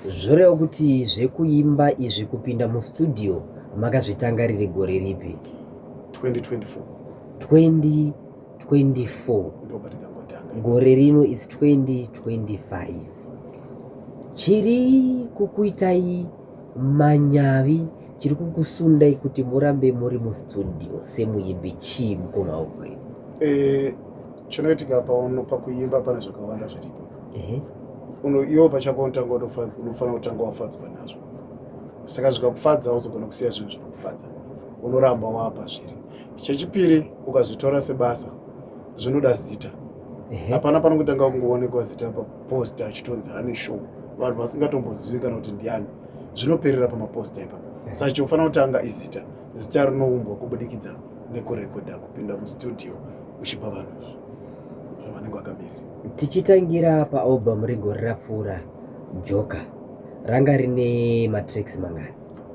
Zvoreva kuti zvekuimba izvi kupinda mustudio makazvitanga riri gore ripi? 2024. 2024. Gore rino is 2025. Chiri kukuitai manyavi chiri kukusundai kuti murambe muri mustudio semuimbi chii mukoma Alfred? Eh, chinoitika pano pakuimba pane zvakawanda zviripo Ehe. Uno- iwo pachako unotanga unofa- unofanira kutanga wafadzwa nazvo saka zvikakufadza hauzogona kusiya zvinhu zvinokufadza unoramba wapa zviri chechipiri ukazvitora sebasa zvinoda zita Ehe. hapana panokutanga kungoonekwa zita paposta achitonzi ane show vanhu vasingatombozivi kana kuti ndiani zvinoperera pamaposta ipapo saka chinofanira kutanga izita Zita rinoumbwa kubudikidza nekurekodha, kupinda mustudio uchipa vanhu zvavanenge vakamirira. Tichitangira paalbum regore rapfuura, Joker ranga rine matracks mangani?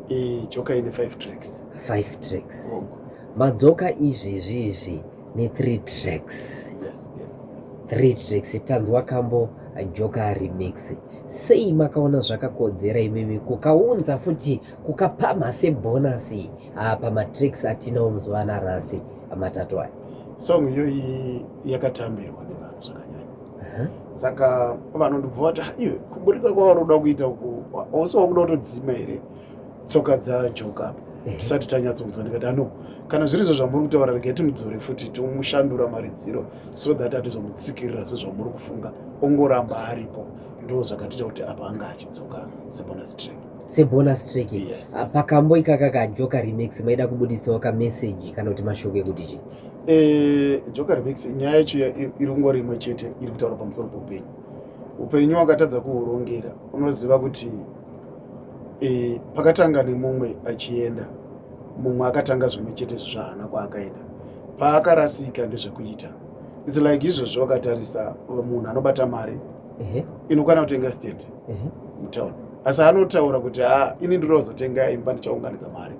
E, Joker ine 5 tracks. 5 tracks. Oh. Madzoka izvezvi izvi ne 3 tracks. Yes, yes, yes. 3 tracks tanzwa kambo Joker remix. Sei makaona zvakakodzera imimi kukaunza futi kukapamha sebhonasi ah, pamatricks atinawo muzuva ana rasi matatu aya song iyoyi yakatambirwa nevanhu zvakanyanya uh-huh. saka vanhu ndibva vati ah, iwe kuburitsa kwavari kuda kuita uku ausi wakuda kutodzima here tsoka dzajoka apa eh. tisati tanyatsonzwa ndikati ano ah, kana zviri izvo zvamuri kutaura regai timudzore futi tomushandura maridziro so that atizomutsikirira sezvamuri kufunga ongoramba aripo ndo zvakatiita kuti apa anga achidzoka sebonus track sebonus track yes, yes. Ah, pakambo ikaka kajoka remix maida kubuditsawo kamessage kana kuti mashoko ekuti chii eh, joka remix nyaya yacho irungo rimwe chete iri kutaura pamusoro poupenyu upenyu wakatadza kuhurongera unoziva kuti e, pakatanga nemumwe achienda mumwe akatanga zvimwe chete zvaana kwaakaenda paakarasika ndezvekuita its like izvozvo wakatarisa munhu anobata mari inokwana kutenga stand mutown asi anotaura kuti ha ini ndiri wazotenga imba ndichaunganidza mari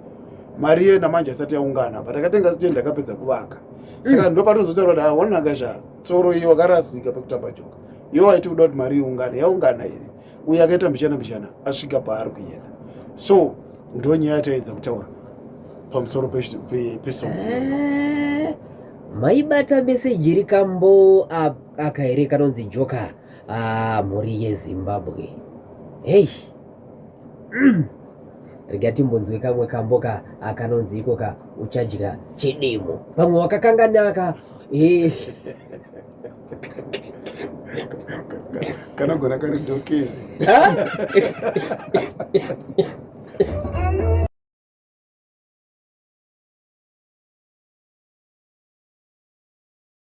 mari iye namanje asati yaungana but akatenga stand akapedza kuvaka saka mm. ndopatozotaura kuti haonaka zva tsoro iyo wakarasika pekutamba joka iyo waiti kuda kuti mari iungane yaungana here uye akaita mbichana mbichana asvika paari kuenda so ndo nyaya yataedza kutaura pamusoro pesongo eh, maibata meseji rikambo apa Aka here kanonzi joka ah, mhuri yezimbabwe hei mm. rega timbonzwe kamwe kamboka akanonzi ikoka uchadya chidimo pamwe wakakanganaka eh. kanogona kari dokezi